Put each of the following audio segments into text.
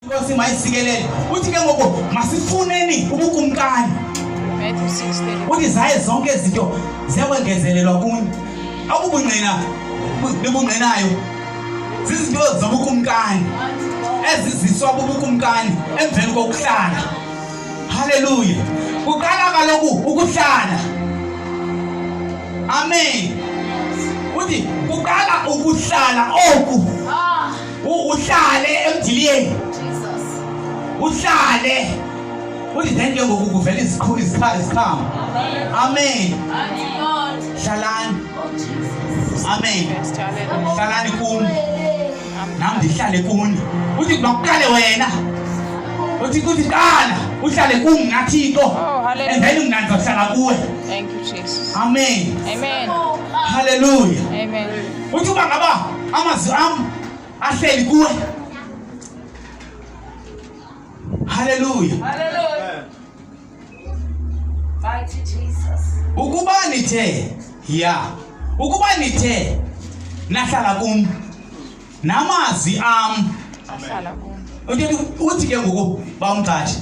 inkosi mayisikelele uthi ke ngoku masifuneni ubukumkani uthi zaye zonke izinto ziyakwengezelelwa kuni akubungqina bebungqinayo zizinto zobukumkani eziziswa bubukumkani emveni kokuhlala haleluya kuqala kaloku ukuhlala amen uthi kuqala ukuhlala oku ah. uhlale emdiliyeni uhlale uthi then ke ngoku kuvela iziqhamo amen hlalani amen hlalani kuni nam ndihlale kuni uthi kuba kuqale wena uthi kuthi qala uhlale kumna thixo oh, and then mna ndizohlala kuwe amen haleluya uthi uba ngaba amazwi am ahleli kuwe haleluya ukuba nithe ya ukuba nithe nahlala kum namazwi am uthi ke ngoku bawumqathi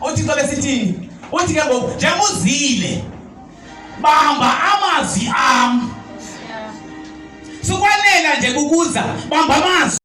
uthi xa besithini uthi ke ngoku njengoba uzile bamba amazwi am sikwanela nje kukuza bamba amazwi